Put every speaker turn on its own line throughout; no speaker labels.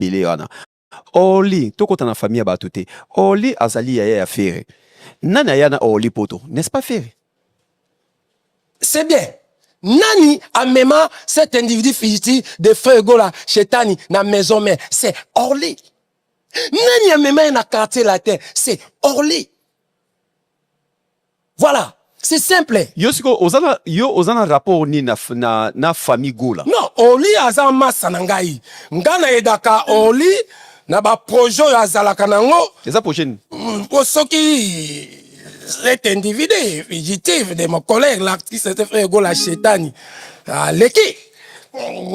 ebele wana oli tokota na famille ya bato te oli azali yaya ya fere nani aya na oli poto n'est-ce pas fere
c'est bien nani amema cet individu figiti de feu gola shetani na maison mère c'est orly nani amema ye na quartier latin c'est orly Voilà, c'est simple. Yo siko ozana
yo ozana rapport ni na na, na famille Gola. Non, Oli aza
massa na ngai. Nga na edaka Oli na ba projet oyo azalaka nango. Eza projet ni?
Mm, po soki
cet individu fugitif de mon collègue l'artiste frère Gola Chetani. Aleki.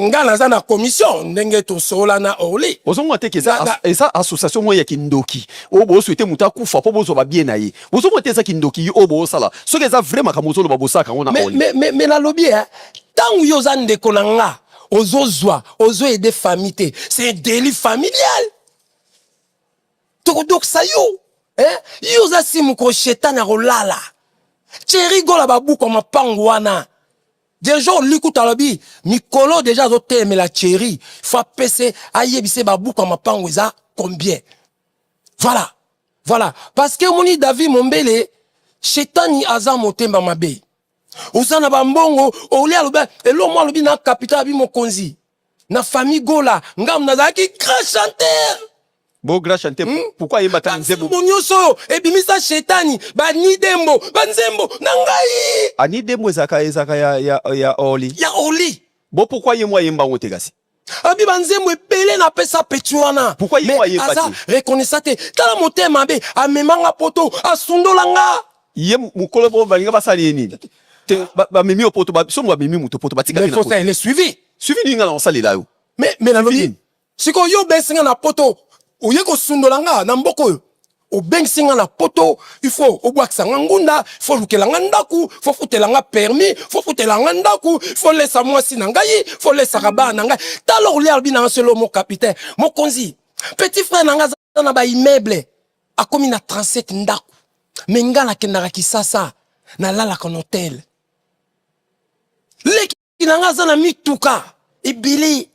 nga naza na commission ndenge tosola na orly ozonga te keza Naza-
eza association moko ya kindoki oyo boswete moto akufa mpo bozwa babie na ye bozonga te eza kindoki ye oyo bosala soki eza vrai makambo ozoloba bosalaka yango na me, oli me, me, me nalobi eh,
ntango yo oza ndeko na nga ozozwa ozo aide famille te c'est deli familial tokodokisa yo eh? yo oza simu koshetani akolala cheri gola babuku ya mapango wana Deja olikuta alobi mikolo deja azotelemela cheri fo apese ayebise babuku ya mapango eza combien voilà voilà parce que omoni david mombele shetani aza motemba mabe oza na bambongo oli alobi eloo mwa alobi na capital abi mokonzi na famille gola ngam nazalaki grand chanteur bo grand
chanteur hmm? pourquoi ayemba ta nzembo bo nyonso oyo ebimisa
shetani bani dembo banzembo na ngai ani dembo ezaka
ezaka ya, ya, ya oli ya oli
bo pourquoi ye mwa
ayemba yango te kasi abi banzembo
ebele napesa peti wana pourquoi ye mwa ayemba te aza
reconnaissant te
tala motema mabe amemanga poto asundola nga ye mukolo
bo balinga basali ye nini te bamemi yo poto somo bamemi moto poto batikaki na poto mais suivi
suivi nini nga na kosalela
yo mais mais nalobi
sikoyo yo obengisi nga na poto oye kosundola nga na mboka oyo obengisi nga na poto il faut obwakisa nga ngunda il faut olukela nga ndako faut futela nga permis faut futela nga ndako faut lesa mwasi na ngai faut lesaka bana na ngai tala olia albi na nga selo mo capitaine mokonzi petit frère na nga aza na ba immeuble akomi na 37 ndako me nga nakendaka kisasa nalalaka na hotel leki na nga aza na mituka ebele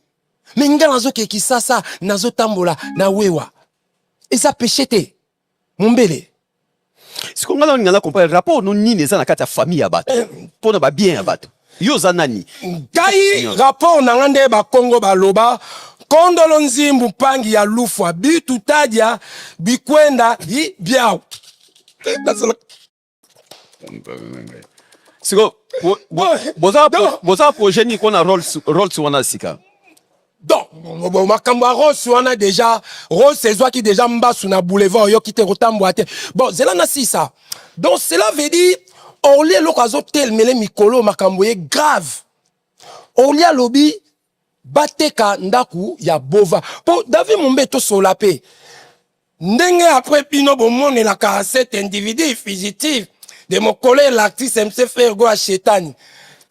me nga nazokee kisasa nazotambola na wewa eza peshe te mombele
siko nga nalinga na comprendre rapport no nini eza na kati ya famille ya bato eh. mpo na babien ya bato Yo oza nani? Ngai
rapport na nga nde ba Kongo ba loba kondolo nzimbu mpangi ya lufwa bitu tadia bikwenda hi biao.
Siko boza boza projet ni kona rolls rolls wana sika.
donc makambo ya rose wana deja rose ezwaki deja mbasu na boulevard oyoki te kotambwa te bon zela na sisa donc cela veut dire orli eloko azotelemele mikolo makambo ye grave orli alobi bateka ndako ya bova mpo david mombe tosola mpe Ndenge après bino bomonelaka cet individu fugitif de mon collègue l'artiste MC Frère Goa Shetani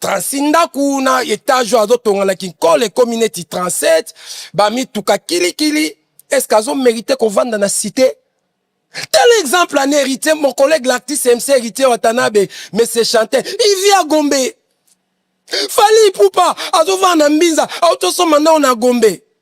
36 ndaku na etage oyo azotonga na kinkole ekomi neti 37 bamituka kilikili est-ce que azo merite kovanda na cité Tel exemple en héritier, mon collègue l'artiste MC Héritier Watanabe, mais c'est chanté. Il vit à Gombe. Fali Poupa, Azova Nambinza, Autosoma Nao na Gombe.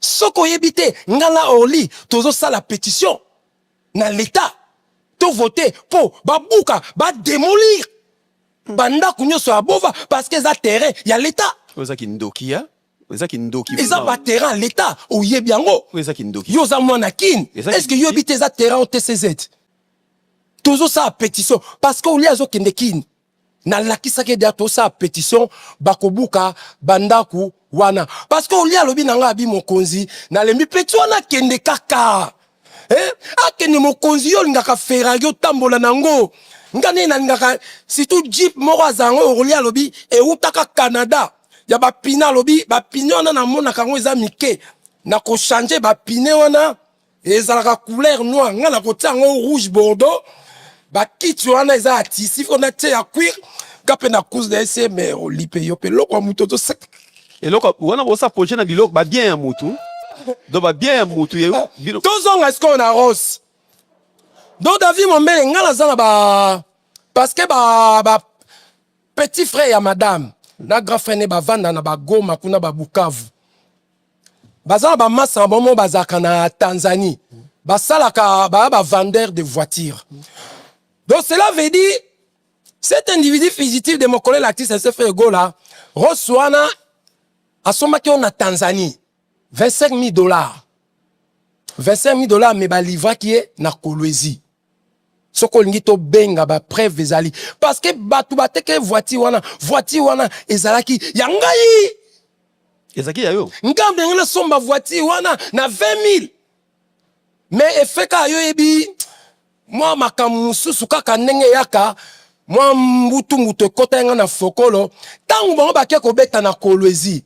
Soki oyebi te, nga na Orly tozo sala petition na l'etat to voter po ba buka, ba demolir ba ndaku nionso ya Bova parce que eza terrain ya l'etat. Oyo eza kindoki ya
eza kindoki vraiment. Eza ba terrain ya
l'etat oyebi yango? Oyo eza kindoki. Yo oza
mwana kin
est ce que yo oyebi te eza terrain OTCZ? Tozo sala petition parce que Orly azo kende kin nalakisaki ede tosala petition bakobuka bandako wana parce que olie alobi na ngai abi mokonzi nalembi peti wana akende kaka eh? akende mokonzi yo olingaka ferrari otambola nango nga nde nalingaka surtout jeep moko azala ngo olie alobi ewutaka canada ya bapine alobi bapine wana namonaka yango eza mike nakochange bapine wana ezalaka couleur noir nga nakotia yango rouge bordeaux bakiti wana eza ya tisi fo natie ya cuir nga mpe na couze na ese me olipe yo mpe eloko ya moto ozoseka eloko
wana bosa projet na biloko babien ya motu do babien ya motu ye bino tozonga sikoyo na
rose do david mombele nga naza na ba parce que ba, ba petit frère ya madame na grand frère ne bavanda na bagoma kuna babukavu baza na bamasa na bango bazalaka na tanzanie basalaka baya bavendeur de voiture donc cela veut dire cet individu fugitif de mokolo elakisi ese frere gola rose wana asombaki yo na tanzanie 25 000 dollars 25 000 dollars me balivraki ye na kolwezi soki olingi tobenga bapreuve ezali parce que bato bateke voiture wana voiture wana ezalaki ya ngai ezalaki
ya yo ngambo yango nasomba
voiture wana na 20 000 mais efeka yo yebi mwa makambo mosusu kaka ndenge eyaka mwa mbutu mbutu ekota yanga na fokolo ntango bango bake kobeta na kolwezi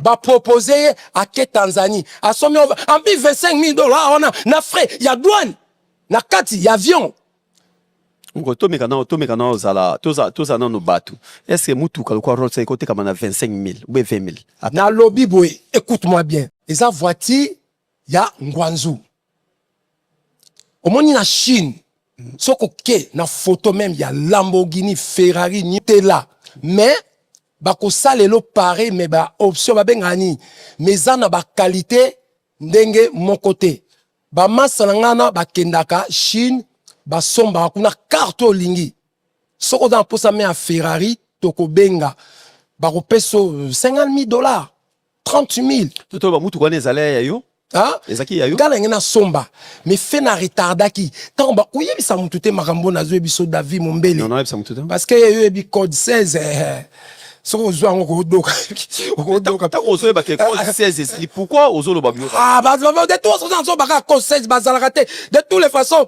ba proposer ye ake Tanzanie asombi en plus 25000 dollars wana na frais ya douane na kati ya avion ngo
tomeka nao tomeka nao ozala toza toza nano bato est ce que mutuka lokola rolls eko tekama na 25000 ou 20000 nalobi boye
écoute moi bien eza voiture ya ngwanzu omoni na chine soki oke na photo meme ya lamborghini ferrari nitela mais bakosala elo pareil mais ba option babengaka nini mais eza na bakalite ndenge moko te bamasa na ngai na bakendaka chine basombaka kuna karte oyo olingi soki oza na mposa me ya ferrari tokobenga bakopesa 50 000 dollars 30000 toto ba mutuka wana
ezali ya yo ezalaki ya yo
kala ngai
nasomba
mais fe na retardaki ntango ba oyebisa motu te makambo oyo nazwi biso david mombele parce que
yo oyebi code
16 eh, eh. soki ozwi yango okodoka okodoka ntango
ozoyeba ke code 16 ah, ah. ezali pourkui ozoloba bio ah, de tous
oza nazoba kaka code 16 bazalaka te de toutes les façons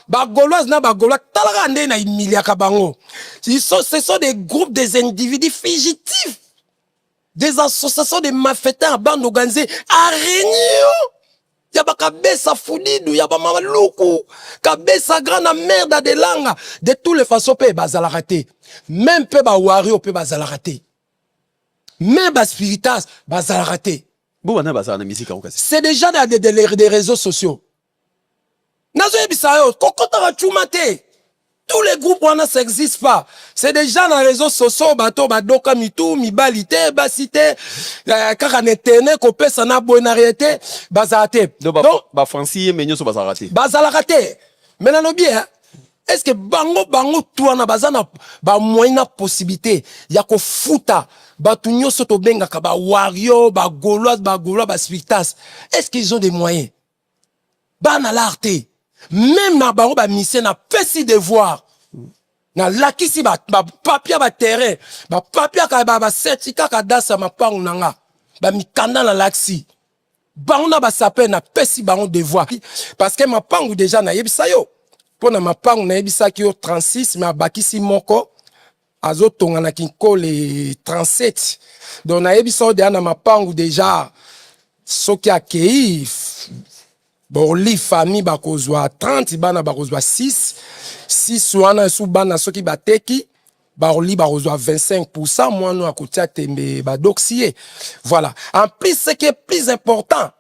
bagoloise na bagolois talaka nde na imiliaka bango ce sont des groupes des individus fugitifs des associations de malfaiteurs bande organisée à réunion ya bakabesa fudidu ya bamaluku kabesa grand na merda de langa de toutes les façons mpe bazalaka te meme mpe bawario mpe bazalaka te meme baspiritas bazalaka te c'est
déjà des, des,
des réseaux sociaux nazoyebisa yo kokotaka cuma te tous les groupes wana ça existe pas c'est déjà na réseau sociaux bato badoka mitu mibali te basi te euh, kaka na etene kopesa na boye na rien te bazala te donc bafranci
ye me nyonso bazalaka te bazalaka te me
nalobi eh, est ce que bango bango tu wana baza na bamoyen na possibilité ya kofuta bato nyonso tobengaka bawario bagoloise bagolois baspiritas est ce qu'ils ont des moyens bana lar te meme na bango bamisie napesi devoir nalakisi bapapia baterrain bapapia baseti kaka dasi ya mapangu na nga bamikanda nalakisi bango na basape napesi bango devoir parce que mapangu deja nayebisa yo mpo na mapangu nayebisaki yo 36 me abakisi moko azotonga na kinkole 37 donc nayebisa yo deya na mapangu deja soki akei boli famille bakozwa 30 bana bakozwa 6 6 wana esu bana soki bateki baroli bakozwa 25 pourcent mwana oyo akotia tembe badoksi ye voilà en plus ce qui est plus important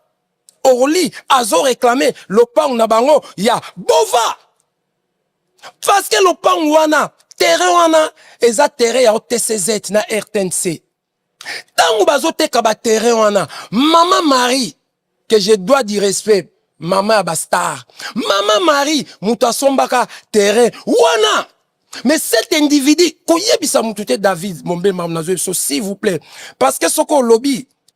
orly azoreklame lopango na bango ya bova parce que lopango wana terrain wana eza terrain ya OTCZ na RTNC ntango bazoteka baterrain wana mama marie que je dois du respect mama ya bastar mama marie moto asombaka terrain wana mais cet individu koyebisa moto te david mombemam nazoyebiso s'il vous plaît parce que soki olobi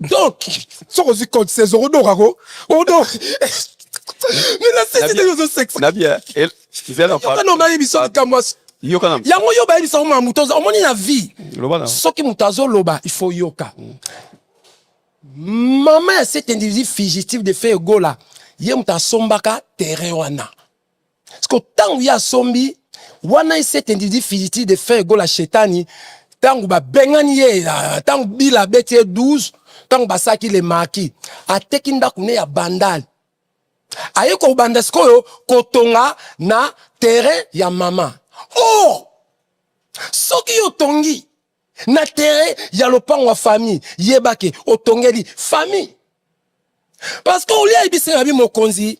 donc soki ozwi code 16 okodoka ko odoka mina sisi te
ozo
sexe na bien
zela
pa non na biso
likambo yoka yango yo ba biso ma moto
omoni na vie soki moto
azo loba
il faut yoka maman ya cet individu fugitif de feu egola ye moto asombaka terrain wana siko ntango ye asombi wana esete ndidi filiti de fin egola shetani ntango babengani ye ntango ah, bila abeti ye 12 ntango basaki le maki ateki ndako ne ya bandale aye kobanda sikoyo kotonga na terrain ya mama or soki yo otongi na terrain ya lopango ya famille yeba ke otongeli famille parce que olia ebisa na bi mokonzi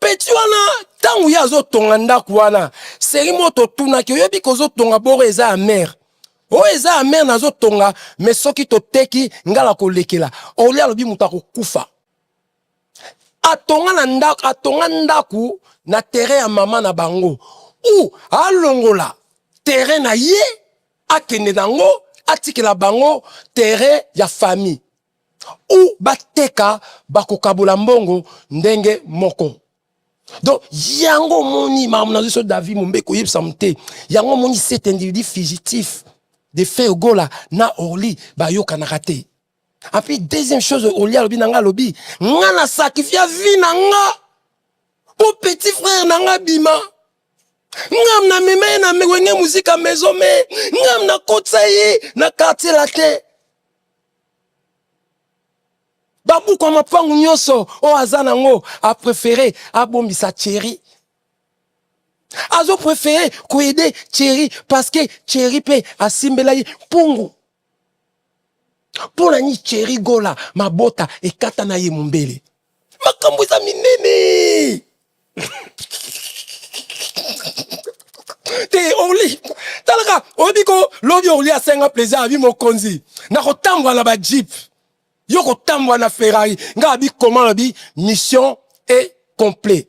peti wana ntango ye azotonga ndako wana seri moto otunaki oyebi kozotonga boro eza ya mare oyo eza ya mare nazotonga me soki toteki ngai nakolekela olia alobi moto akokufa atonga na ndako atonga ndako na terrain ya mama na bango ou alongola terrain na ye akende nango atikela bango terrain ya famille ou bateka bakokabola mbongo ndenge moko donc yango omoni makambo nazwi so david mombe koyebisa mo te yango omoni cet individu fugitif de frère gola na orly bayokanaka te Et puis deuxième chose, Oli alobi nanga alobi, nga na sacrifice vie nanga. Au petit frère nanga bima. Ngam na meme na mewenge musique à maison mais ngam na kotsa ye na quartier latin. Babuku mapangu nyoso o aza nango a préféré abombisa Thierry. Azo préféré ko aider Thierry parce que Thierry pe asimbela ye pungu. mpo na nini cheri gola mabota ekata na ye mombele makambo eza minene te orli talaka oyebi ko lobi orli asenga plaisir abi mokonzi na kotambola na bajipe yo kotambola na ferrari ngai abi koma lobi mission e complet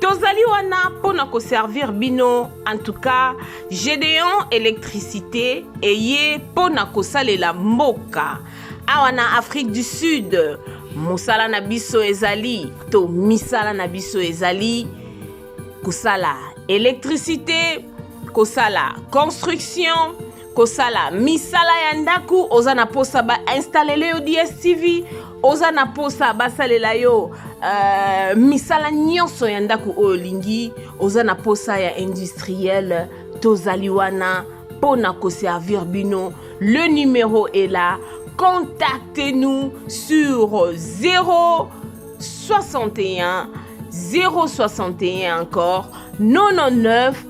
tozali wana mpo na koservir bino en tout cas gedeon électricité eye mpo na kosalela mboka awa na afrique du sud mosala na biso ezali to misala na biso ezali kosala électricité kosala construction kosala misala ya ndako oza na posa ba instalele yo dstv oza na posa basalela yo uh, misala nyonso ya ndako oyo olingi oza na posa ya industriel tozali wana mpo na koservir bino le numero est là contactez nous sur 0 61 061 encore 99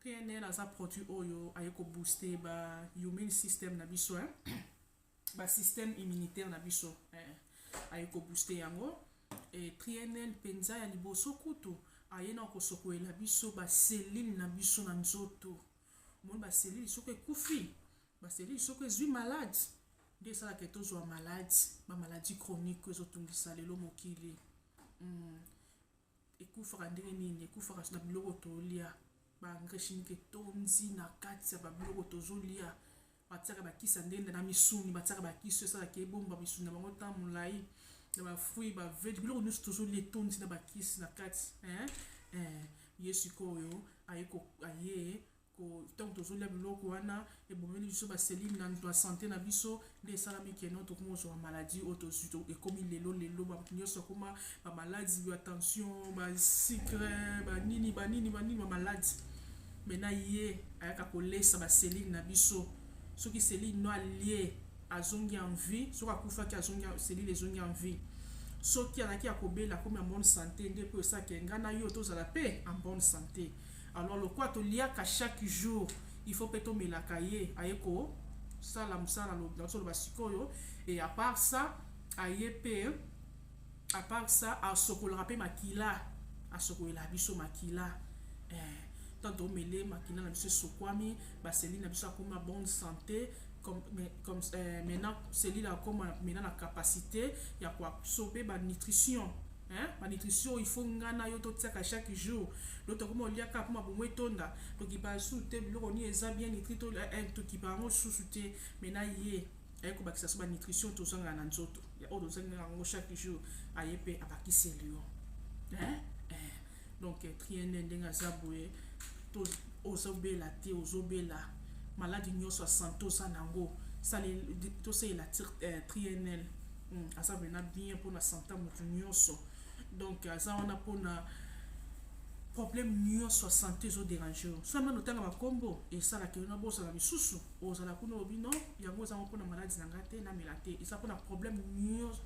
PNL aza produit oyo aye ko booster ba immune system na biso hein. ba système immunitaire na biso eh. aye ko booster yango et PNL penza ya liboso kutu aye na kosokolela biso ba cellule na biso na nzoto omoni ba cellule soki ekufi ba cellule soki ezwi malade nde esalaka tozwa malade ba maladie chronique ezotungisa lelo mokili mm. ekufaka ndenge nini ekufaka na biloko tolia ba engrais chimique etondi na kati ya babiloko tozolia batiaka bakisa ndenda na misuni batiaka bakisi esalaka ebomba misuni na bango ntan molai na bafruit bavege biloko nyonso tozolia etondi na bakisi na kati eh, eh, ye sikoyo aye ntango tozolia biloko wana ebomeli biso baselile na nto ya sante na biso nde esalami keno tokomi kozwa bamaladi oyo tozwi ekomi lelo lelo bato nyonso akoma bamaladi ya tension basikre banini banini banini bamaladi me na ye ayaka kolesa baselile na biso soki selile no alie azongi en vie soki akufaki azongi selile ezongi en vie soki alaki ya kobela akomi en bonne sante nde mpo esaka enga na yo tozala mpe en bonne sante Alors lokola toliaka chaque jour, il faut pe tomelaka ye aye ko sala musala nazoloba sikoyo et à part ça aye pe à part ça asokolaka pe makila asokolela biso makila eh, ntango tomele makila na biso esokwami baseli na biso akoma bonne santé comme, mais, comme euh, maintenant selile akoma maintenant na capacité ya koabsorbe banutrition Hein? Ma nutrition, il faut nga na yo to tiaka chaque jour. Donc to komo liaka pour ma bomo etonda. To ki pa sous te biloko ni eza bien nitri to la eh, to ki pa ngo sous te mais na ye. Aye ko bakisa so ba nutrition to zanga na nzoto. Ya o to zanga ngo chaque jour. Aye pe abakisi lion. Hein? donc triene ndenge aza boye to ozobela te ozobela maladi nyonso ya sante oza na yango tosalela eh, trienl hmm, aza mpena bien mpona sante ya moto nyonso donc aza wana mpona problème nyonso ya sante ezoderange yo so amana otanga bakombo esalaka yo na bozala misusu ozala kuna obi no yango ezango mpona maladi na ngai te namela te eza mpona problème nyonso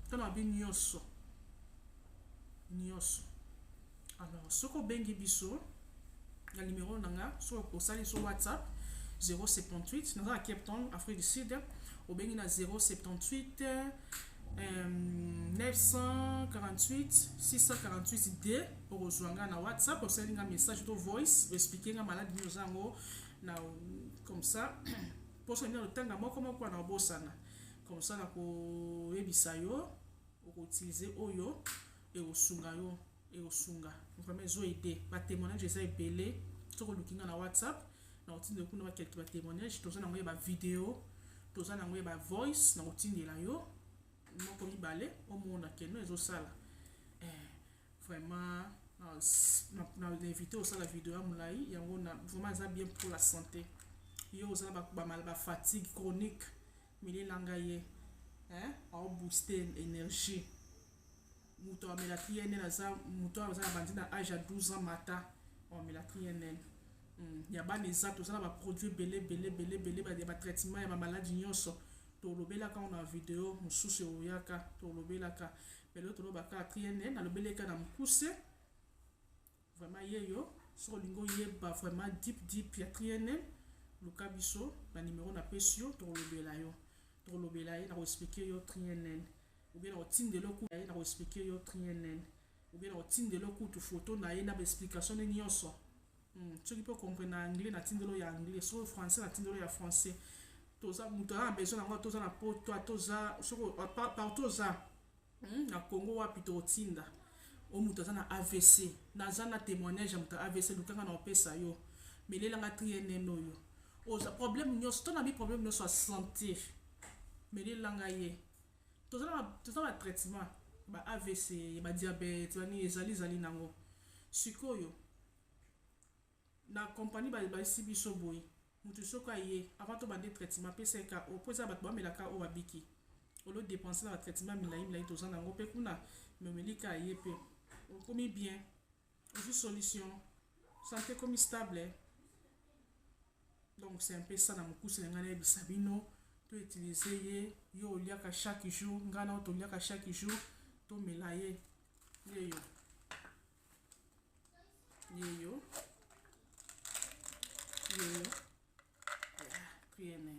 mpona mabe nyonso nioso alors soki obengi biso na numero na nga soki osali so whatsapp 078 naza na cape town afrique du sud obengi na 078 euh, 948 648 d okozwa nga na whatsapp osali nga message to voice oexplike nga maladi nini oza yango na comme ça mposo nini otanga moko moko na obosana comme ça nakoyebisa yo oko utiliser oyo ekosunga yo ekosunga vraiment ezo aide ba témoignage eza ebele soki oluki nga na whatsapp na otindela kuna ba quelque ba témoignage toza nango ya ba video toza nango ya ba voice na otindela yo moko mibale omona keno ezosala eh, vraiment na invité osala video ya molai yango na vraiment eza bien pour la santé yo oza na ba fatigue chronique Mele na nga ye eh au booster energie moto amela TNN aza moto aza na bandi na âge ya 12 ans mata amela TNN hmm, ya bana eza toza na baproduit ebele ebele ebele ebele ya batraitement ya bamaladi nyonso tolobelaka na video mosusu eoyaka tolobelaka me lelo tolobaka TNN alobeleka na mokuse Vraiment yeyo soki olingi oyeba vraiment deep deep ya triene luka biso na numero na pesi yo tokolobela yo tokolobela ye na koexplike yo triene ou bien na kotindela oku ye na koexplike yo triene ou bien na kotindela okutu foto na ye na baexplication ne nyonso hmm. soki mpe okomprene na anglais na tindelo ya anglais soki français na tindelo ya français toza moto aza na besoin na yango toza na poto toza soki partout oza Hum, na Congo wapi tokotinda o moto aza na AVC. Naza na temoignage ya moto ya AVC, luka nga na opesa yo. Melela nga trienen oyo. Oza problème nyonso, to na bi problème nyonso ya santé. Melela nga ye. Toza na toza na traitement ba AVC, ba diabète, ba nini ezali zali nango. Sikoyo Na company ba yebasi biso boye mutu soki aye avant to bande traitement apesa ye KO po eza batu ba mela KO ba biki au lieu de depenser na ba traitement milayi milayi toza nango pe kuna mais omeli ka ye pe okomi bien ozui solution sante ekomi stable donc c'est un peu ça na mukuse na ngai na yebisa bino to utiliser ye yo oliaka chaque jour ngai na yo toliaka chaque jour tomela ye yeyo yeyo yeyo priere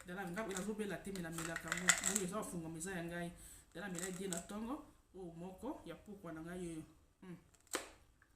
dala nga nazobela te melamelaka ngo moni eza ofungama eza ya ngai dala mela die na ntongo oyo moko ya pokwa na ngai yeyo hmm.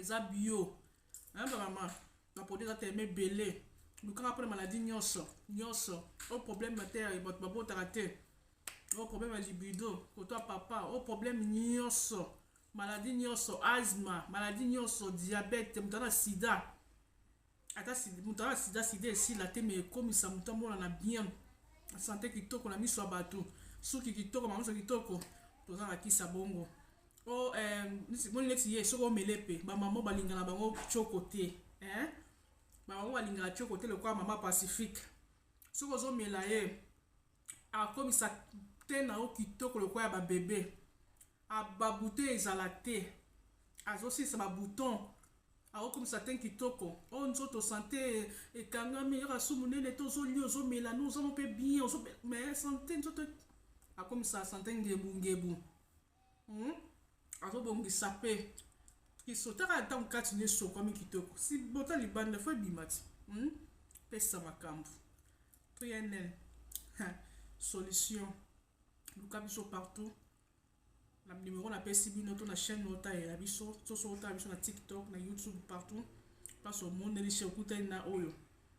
eza bio hein ba maman ba produit eza tellement ebele lukaka mpona maladie nyonso nyonso o oh, problème na te ya bato babotaka te o oh, problème ya libido kotwa papa o oh, problème nyonso maladie nyonso asma maladie nyonso diabète moto ana sida ata moto aa sida sida esila te me ekomisa moto amonana bien sante kitoko na miso ya bato suki kitoko mamiso kitoko toza na kisa bongo o oh, eh, moni neti ye soki omele mpe bamama balingana bango coko te eh? bamama balingana coko te lokola mama pacifique soki ozomela ye Akomisa teint na yo kitoko lokola ya ba bebe. A ba boutons ezala te. Azo silisa ba boutons. Ako komisa teint kitoko. Oh nzoto sante ekangami kaka su munene te ozo lia ozo mela no oza mpe bien ozo mais sante nzoto akomisa sante ngebu ngebu. Hum azo bongisa pe kiso taka na tango kati na esokwami kitoko si bota libanda fo ebima ti hum pesa makambu pnl ha solution luka biso partout na numero na pesi bino to na chaîne ota ya biso soso ota biso na tiktok na youtube partout place omoneli chez okutani na oyo